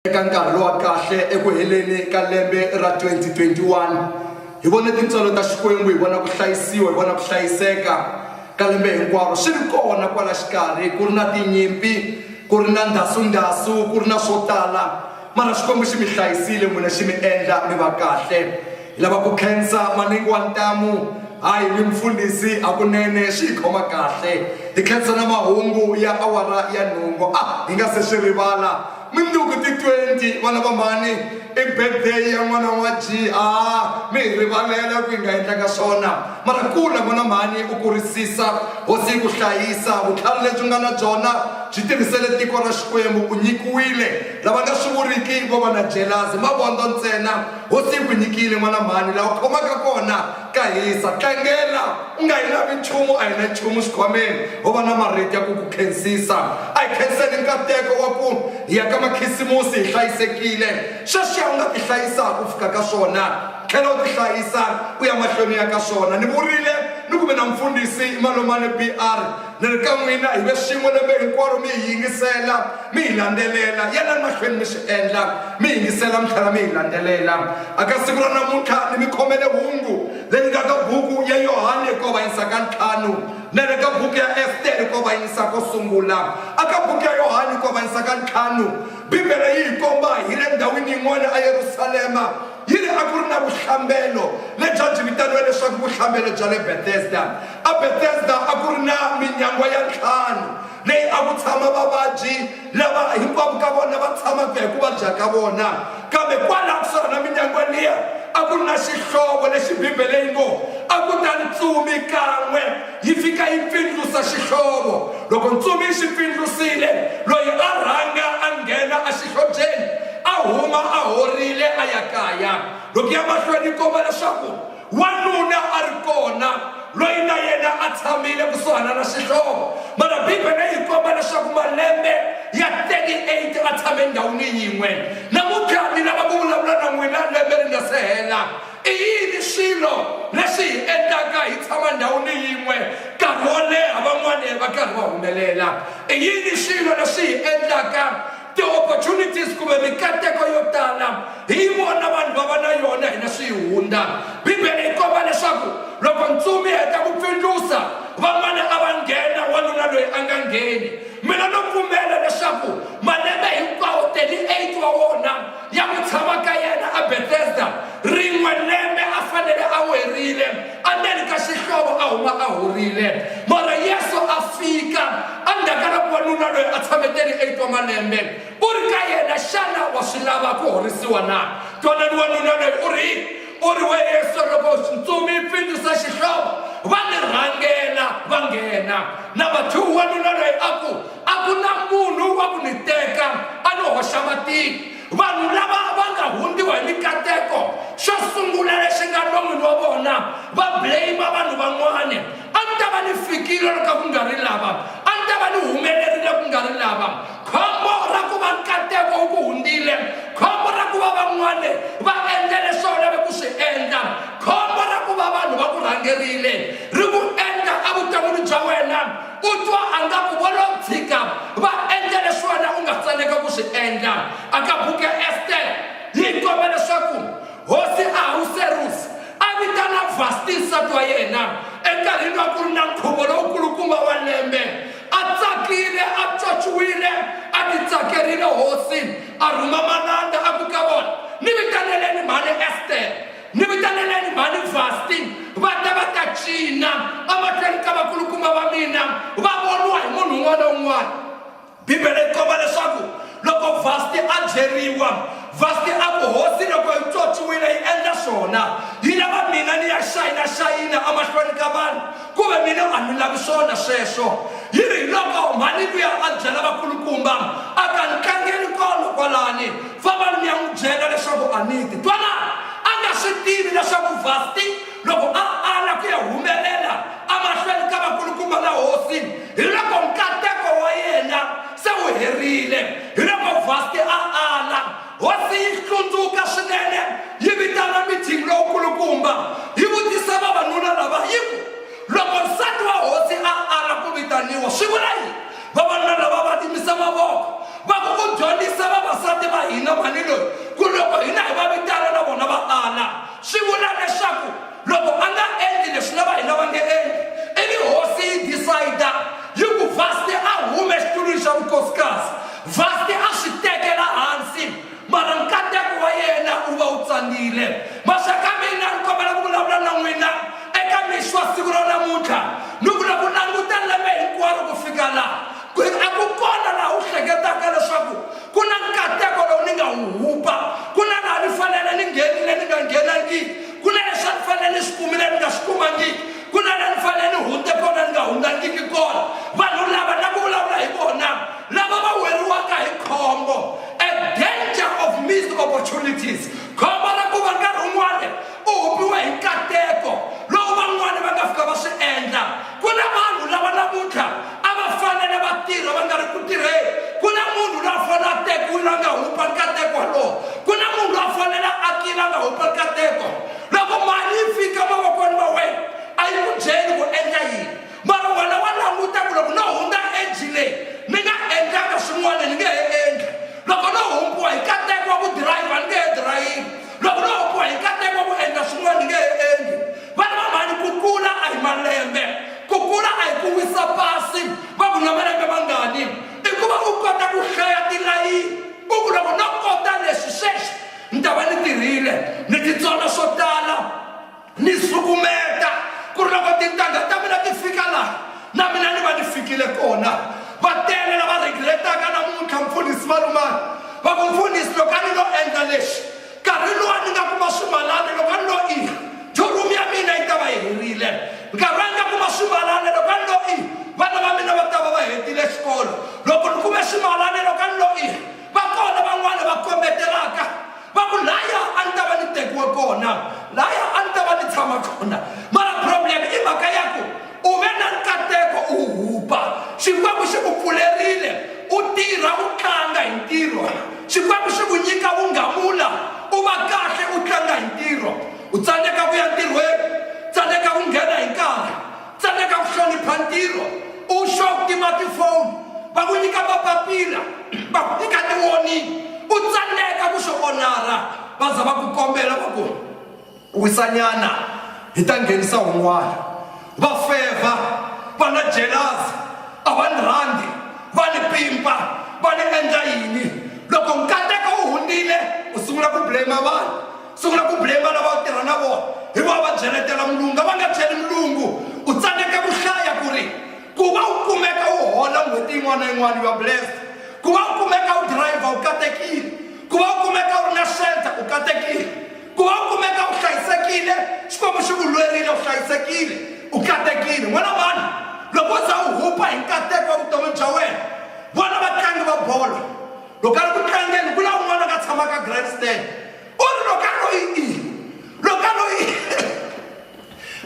Eka nkarhi lowa kahle eku heleni ka lembe ra 2021, hi vone tintswalo ta Xikwembu, hi vona ku hlayisiwa, hi vona ku hlayiseka ka lembe hinkwaro swi ri kona kwala xikarhi, ku ri na tinyimpi, ku ri na ndhasundhasu, ku ri na swo tala, mara Xikwembu xi mi hlayisile n'wina, xi mi endla mi va kahle. Hi lava ku khensa Manengi wa Ntamu, hayi ni Mfundhisi, hakunene swi hi khoma kahle. Hi khensa na mahungu ya awara ya nhungu, a hi nga se swi rivala. Mundzuku ti 20 va lava mhani i birthday ya n'wana wa Jiha mi hi rivalela ku hi nga endlanga swona mara kula n'wana mhani u kurisisa hosi yi ku hlayisa vutlhari lebyi nga na byona byi tirhisele tiko ra Xikwembu u nyikiwile lava nga swi vuriki vo va na jelazi mavondzo ntsena hosi yi ku nyikile n'wana mhani laha u khomaka kona Ka hisa, tlangela, u nga hi lavi nchumu, a hi na nchumu xikhwameni, ho va na marito ya ku ku khensisa. A hi khenseni nkateko wa ku hi ya ka Makhisimusi hi hlayisekile. Sweswiya u nga tihlayisaka u fika ka swona, tlhela u tihlayisa u ya mahlweni u ya ka swona. Ni vurile ni ku mi na Mfundhisi Malomane BR. Ni ri ka n'wina hi ve swin'we lembe hinkwaro mi hi yingisela mi hi landzelela yelani mahlweni mi swi endla mi yingisela mi tlhela mi hi landzelela a ka siku ra namuntlha ni mi khomele hungu leri nga ka buku ya yohane ko va yinisa ka ntlhanu na le ka buku ya estere ko va yinisa ko sungula a ka buku ya yohane ko va yinisa ka ntlhanu bibele yi hi komba hi le ndhawini yin'wana eyerusalema Yini a ku ri na vuhlambelo lebyi a byi vitaniwa leswaku vuhlambelo bya le Bethesda? EBethesda a ku ri na minyangwa ya ntlhanu leyi a ku tshama vavabyi lava hinkwavo ka vona va tshamaka hi ku vabya ka vona. Kambe kwalaho kusuhana na minyangwa liya a ku ri na xihlovo lexi Bibele yi ngo, A ku ta ntsumi kan'we Yi fika yi pfindlusa xihlovo. Loko ntsumi yi xi pfindlusile, loyi a rhanga a nghena exihlobyeni a huma a horile a ya kaya. Loko ya mahlweni yi komba leswaku wanuna a ri kona loyi na yena a tshamile kusuhana na xihlovo. Mana Bibele yi komba leswaku malembe ya 38 a tshame endhawini yin'we na mukati lava ku vulavula na n'wina lembe ri nga se hela. I yini swilo leswi hi endlaka hi tshama ndhawini yin'we nkarhi wo leha van'wana va karhi va humelela i yini swilo leswi hi endlaka ti-opportunities kumbe mikateko yo tala hi yi vona vanhu va va na yona hina swi yi hundza bibele yi komba leswaku loko ntsumi yi heta ku pfindlusa van'wana a va nghena wanuna loyi a nga ngheni mina no pfumela leswaku malembe hinkwawo 38 wa wona ya ku tshama ka yena aBetesda, rin'we lembe a fanele a werile, andzeni ka xihlovo a huma a horile. Mara Yesu a fika andzhaka loko wanuna loyi a tshame 38 wa malembe u ri ka yena, xana wa swi lava ku horisiwa na? Twanani wanuna loyi u ri u ri we Yesu, loko ntsumi yi pfindzisa xihlovo va ni rhangela va nghena. Number two, wanuna loyi a ku a ku na munhu wa ku ni teka a ni hoxa matiko vanhu lava va nga hundziwa hi mikateko xo sungula lexi nga lomini wa vona va blame vanhu van'wana a ni ta va ni fikile loko ku nga ri lava a ni ta va ni humelerile ku nga ri lava khombo ra ku va nkateko wu ku hundzile khombo ra ku va van'wana va endla leswi va lave ku swi endla khombo ra ku va vanhu va ku rhangerile ri ku endla evuton'wini bya wena u twa a nga ku vo lo tshika va endla leswi wena u nga faneleke ku swi endla a ka buku ya ester yi komba leswaku hosi ahuserusi a vitana vasti nsati wa yena enkarhini wa ku ri na nkhuvo lowukulukumba wa lembe a tsakile a tswatswiwile a titsakerile hosi a rhuma malanda a ku ka vona ni vitaneleni mhani ester Ni vitaneleni mhani Vasti va ta va ta cina emahlweni ka vakulukumba va mina va voniwa hi munhu un'wana na un'wana. Bibele yi komba leswaku loko Vasti a byeriwa, Vasti a ku, Hosi loko yi tswotswiwile yi endla swona, yi lava mina ni ya xayinaxayina emahlweni ka vanhu, ku ve mina a ni lavi swona sweswo. Yi ri hiloko mhani luya a byela vakulukumba a ta, Ni tlangeni kolo kwalani, Vavalo mi ya n'wi byela leswaku a ni ti twalana a nga swi tivi leswaku Vasti loko a ala ku ya humelela amahlweni ka vakulukumba va hosi hi loko nkateko wa yena se wu herile. Hi loko Vasti a ala, hosi yi hlundzuka swinene yi vitana meeting lowukulukumba yi vutisa vavanuna lava yi ku, Loko nsati wa hosi a ala ku vitaniwa swi vula yini? vavanuna lava va timisa mavoko va ku ku dyondzisa vavasati va hina mhani loyi ku loko hina hi va vitana na vona va ala swi vula leswaku loko a nga endli leswi na va hina va nge endli ivi hosi yi decide yi ku vasti a hume exitulwini xa vukosikasi vasti a swi tekela hansi mara nkateko wa yena wu va wu tsanile maxaka mina ni kombela ku vulavula na n'wina eka mixwa siku ra namuntlha ni vula ku languta lembe hinkwaro ku fika laha a ku kona laha wu hleketaka leswaku ku na nkateko lowu ni nga wu hupa ku na laha ni fanele ni nghenile ni nga nghenangiki ku na leswi a ni fanele ni swi kumile ni nga swi kumangiki ku na la ni fanele ni hundze kona ni nga hundzangiki kona vanhu lava na ku vulavula hi vona lava va weriwaka hi khombo a danger of missed opportunities khombo ra ku va nkarhi wun'wana u humiwe hi nkateko lowu van'wana va nga fika va swi endla ku na vanhu lava namuntlha a va fanele va tirha va nga ri ku tirheni ku na munhu loyi a fanele a tekiwile a nga humpa nkateko walowo ku na munhu loyi a fanele a tlile a nga humpa nkateko loko mali yi fika mavokweni ma wena a yi ku byeli ku endla yini mara wena wa languta ku loko no hundza eji leyi ni nga endlaka swin'wana ni nge he endla loko no humpiwa hi kateko wa ku dirayivha ni nge he dirayini loko no humpiwa hi kateko wa ku endla swin'wana ni nge he endli vana va mhani ku kula a hi malembe ku kula a hi ku wisa pasi va ku na malembe mangani i ku va u kota ku hlaya tilayini u ku loko no kota leswi sweswi ni ta va ni tirhile ni titsona swo tala ni sukumeta ku ri loko tintangha ta mina ti fika laha na mina ni va ni fikile kona va tele lava regretaka namuntlha mpfunisi valumani va ku mpfunisi loko a ni lo endla lexi nkarhi lowu a ni nga kuma swimalani loko a ni lo i jorum ya mina yi ta va yi herile nkarhi a ni nga kuma swimalani loko a ni lo i vana va mina va ta va va hetile xikolo loko ni kume swimalani loko a ni lo i va kona van'wana va kombetelaka va ku laya a ni ta va ni tekiwe kona laya a ni ta va ni tshama kona mara problem i mhaka ya ku u ve na nkateko u hupa xikwembu xi ku pfulerile u tirha u tlanga hi ntirho xikwembu xi ku nyika vunghamula u va kahle u tlanga hi ntirho u tsandzeka ku ya ntirhweni tsandzeka ku nghena hi nkarhi tsandzeka ku hlonipha ntirho u xo ku tima tifoni va ku nyika mapapila va ku nyika tiwoni u tsandzeka ku xo onara va za va ku kombela va ku wisanyana hi ta nghenisa un'wana va fevha va na jelasi a va ni rhandi va ni pimpa va ni endla yini loko nkateko u hundzile u sungula ku blame vanhu Sungula ku blame lava u tirha na vona, hi vona va byeletela mulungu. A va nga byeli mulungu. U tsaneke ku hlaya ku ri, Ku va u kumeka u hola n'hweti yin'wana na yin'wana, you are blessed. Ku va u kumeka u dirayivha, u katekile. Ku va u kumeka u ri na shelter, u katekile. Ku va u kumeka u hlayisekile, Xikwembu xi ku lwerile, u hlayisekile, u katekile. N'wana mhani, loko u za u hupa hi nkateko wa vutomi bya wena, vona vatlangi va bolo, loko a ri ku tlangeni ku na un'wana ka tshama ka grandstand u ri loko a loyi i loko a loyi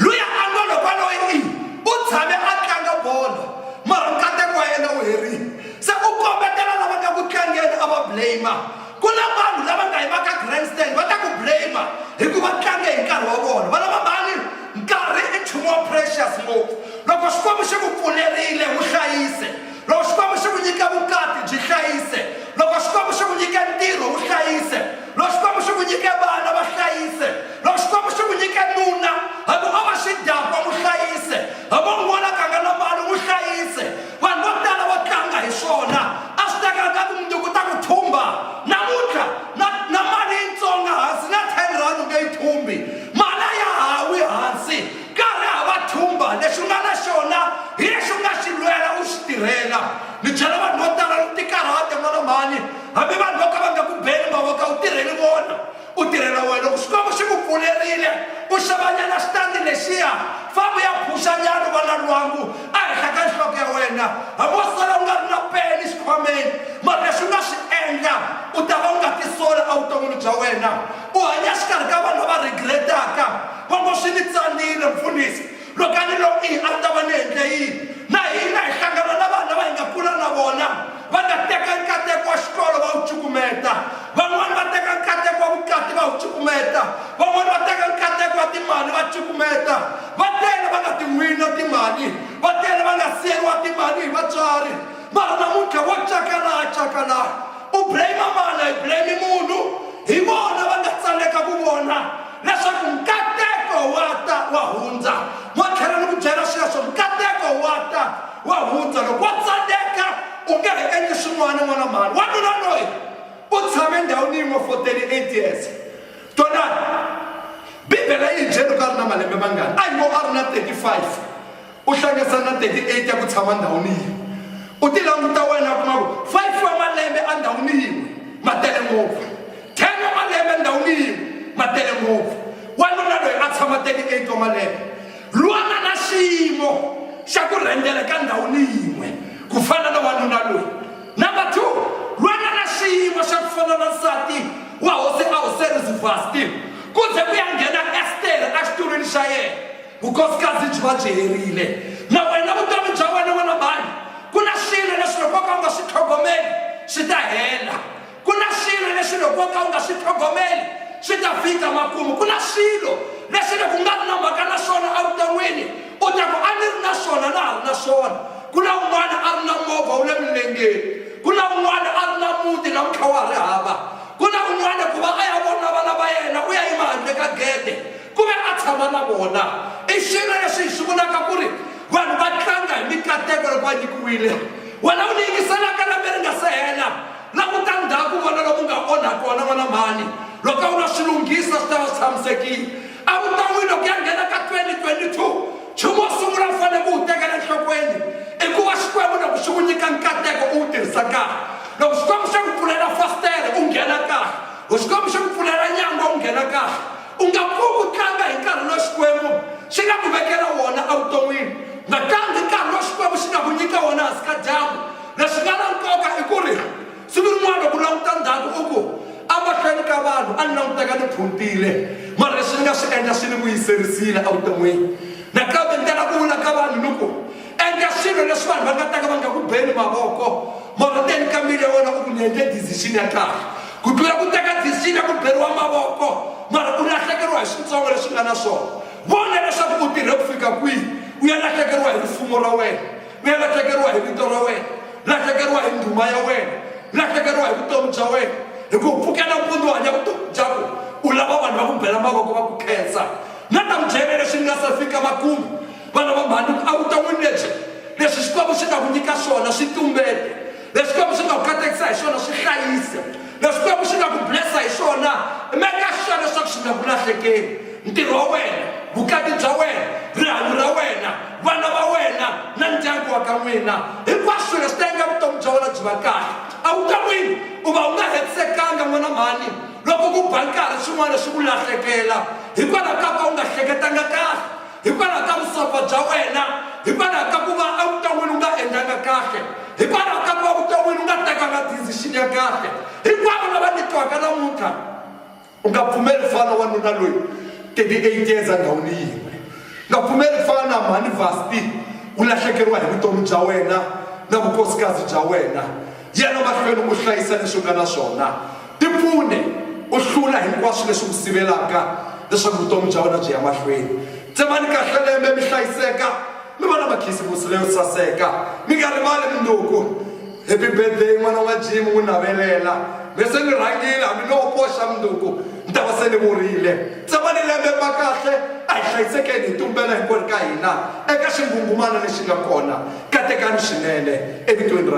luya a ngo loko a loyi i u tshame a tlanga bolo mara nkateko wa yena wu herile se u kombetela lava nga ku tlangeni a va blame ku na vanhu lava nga yi va ka grandstand va ta ku blame hikuva tlange hi nkarhi wa vona va lava mali nkarhi i nchumu wa precious ngopfu loko xikwembu xi ku pfulerile wu hlayise loko xikwembu xi ku nyike vukati byi hlayise loko xikwembu xi ku nyike ntirho wu hlayise loko xikwembu xi ku nyike vana va hlayise loko xikwembu xi ku nyike nuna hambi o va xidakwa n'wi hlayise hambi u vona ganga la vanhu n'wi hlayise vanhu vo tala vo tlanga hi swona a swi tekaka mundzuku ta ku thumba namuntlha na na mali yitsonga hansi na ten rand u nge yi thumbi mali a ya hawi hansi Nkarhi hava thumba, lexi u nga na xona hi lexi u nga xi lwela u xi tirhela. Ni byela vanhu vo tala loko tikarhate n'wana mhani, hambi vanhu vo ka va nga ku beli mavoko a wu tirheli vona, u tirhela wena. Loko Xikwembu xi ku pfulerile u xavanyana xitandi lexiya, famba u ya phuxanyana u vona lwangu ehenhla ka nhloko ya wena. Hambi wo sala u nga ri na peni xikhwameni, mara lexi u nga xi endla u ta va u nga tisola evuton'wini bya wena. U hanya exikarhi ka vanhu lava regret-aka. Kwongo swi ni tsanile, Mfundisi, loko a ni lo i, a ni ta va ni endle yini? Na hina hi hlangana na vanhu lava hi nga kula na vona, va nga teka nkateko wa xikolo va wu cukumeta. Van'wana va teka nkateko wa vukati va wu cukumeta. Van'wana va teka nkateko wa timali va cukumeta. Va tele va nga ti wina timali, va tele va nga siyeriwa timali hi vatswari. Mara namuntlha vo cakalaha cakalaha. U blame-a mani? A hi blame-i munhu. Hi vona va nga tsaneka ku vona. leswaku nkateko wa ta wa hundza wa tlhela ni ku byela sweswo nkateko wa ta wa hundza loko wa tsandeka u nge he endli swin'wana n'wana mhani wanuna loyi u tshame ndhawini yin'we for 38 years tonani bibele yi hi byeli ku a ri na malembe mangani a yi ngo a ri na 35 u hlanganisa na 38 ya ku tshama ndhawini yin'we u ti languta wena kuma ku 5 wa malembe endhawini yin'we ma tele ngopfu 10 wa malembe endhawini yin'we ma tele ngopfu wanuna loyi a tshama 38 wa malembe lwana na xiyimo xa ku rhendela ka ndhawini yin'we ku fana na wanuna loyi number two lwana na xiyimo xa ku fana na nsati wa hosi a hoseri zivasti ku ze ku ya nghena estere exitulwini xa yena vukosikazi byi va byi herile na wena vutomi bya wena wena mhani ku na swilo leswi loko ka u nga swi tlhogomeli swi ta hela ku na swilo leswi loko ka u nga swi tlhogomeli swi ta fika makumu ku na swilo leswi loko u nga ri na mhaka na swona evuton'wini u ta ku a ni ri na swona na ha ri na swona ku na un'wana a ri na movha wu le milengeni ku na un'wana a ri na muti na mutlha wa ri hava ku na un'wana ku va a ya vona vana va yena u ya yima handle ka gede Ku ve a tshama na vona. I swilo leswi hi swi vulaka ku ri vanhu va tlanga hi mikateko loko va nyikiwile. Wena u ni yingiselaka lembe ri nga se hela, languta ndzhaku u vona lomu u nga onha kona n'wana mhani. Loko a wu lo swi lunghisa swi ta va swi tshamisekile. A wu ta wina ku ya nghena ka 2022. Nchumu wo sungula u fanele ku wu tekela enhlokweni i ku va Xikwembu loko xi ku nyika nkateko u wu tirhisa kahle. Loko Xikwembu xi ku pfulela fasitere u nghena kahle. Loko Xikwembu xi ku pfulela nyangwa u nghena kahle. U nga pfuki u tlanga hi nkarhi lowu Xikwembu xi nga ku vekela wona evuton'wini. Nakambe nkarhi lowu Xikwembu xi nga ku nyika wona hansi ka dyambu. Leswi nga na nkoka i ku ri siku rin'wana loko u languta ndzhaku u ku, A mahlweni ka vanhu a ni languteka ni phuntile, mara leswi ni nga swi endla swi ni vuyiserisile evuton'wini. Nakambe ni tala ku vula ka vanhu ni ku, endla swilo leswi vanhu va nga ta ka va nga ku beni mavoko mara teni ka mbilu ya wena u ku ni endle decision ya kahle ku tlula ku teka decision ya ku beriwa mavoko mara u lahlekeriwa hi switsongo leswi nga na swona vona leswaku u tirhe ku fika kwihi u ya lahlekeriwa hi rifumo ra wena u ya lahlekeriwa hi vito ra wena lahlekeriwa hi ndhuma ya wena lahlekeriwa hi vutomi bya wena hi ku pfukela mpundzu hanya vutomi byako u lava vanhu va ku bela mavoko va ku khensa na ta mudyele leswi ni nga se fika makumu vana va mhani a vuton'wini lebyi leswi xikwembu xi nga ku nyika swona swi tumbeta leswi xikwembu xi nga ku katekisa hi swona swi hlayisa leswi xikwembu xi nga ku blessa hi swona meka sure leswaku xi nga ku lahlekeli ntirho wa wena vukati bya wena rihanyo ra wena vana va wena na ndyangu wa ka n'wina hinkwaswo swilo swi ta endla vutomi bya wena byi va kahle a vuton'wini u va u nga hetisekanga n'wana mhani loko ku ba nkarhi swin'wana swi ku lahlekela hikwalaho ka ka u nga hleketanga kahle hikwalaho ka vusopfa bya wena hikwalaho ka ku va evuton'wini u nga endlanga kahle hikwalaho ka ku va vuton'wini u nga tekanga decision ya kahle hinkwavo lava nyikiwaka namuntlha u nga pfumeli fana wa nuna loyi 38 years endhawini yin'we nga pfumeli fana mhani vasti u lahlekeriwa hi vutomi bya wena na vukosikazi bya wena Yena mahlweni u hlayisa leswi u nga na swona. Tipfune u hlula hinkwaswo leswi ku sivelaka leswaku vutomi bya wena byi ya mahlweni. Tsemani kahle lembe mi hlayiseka, mi va na makhisimusi leyo saseka. Mi nga rivali mundzuku. Happy birthday n'wana wa Jim n'wi navelela. Me se ni rhangile hambi no koxa mundzuku ni ta va se ni vurile. Tsemani lembe mi va kahle, a hi hlayisekeni hi tumbela hinkwenu ka hina eka xingungumana lexi nga kona. Katekani swinene evitweni ra.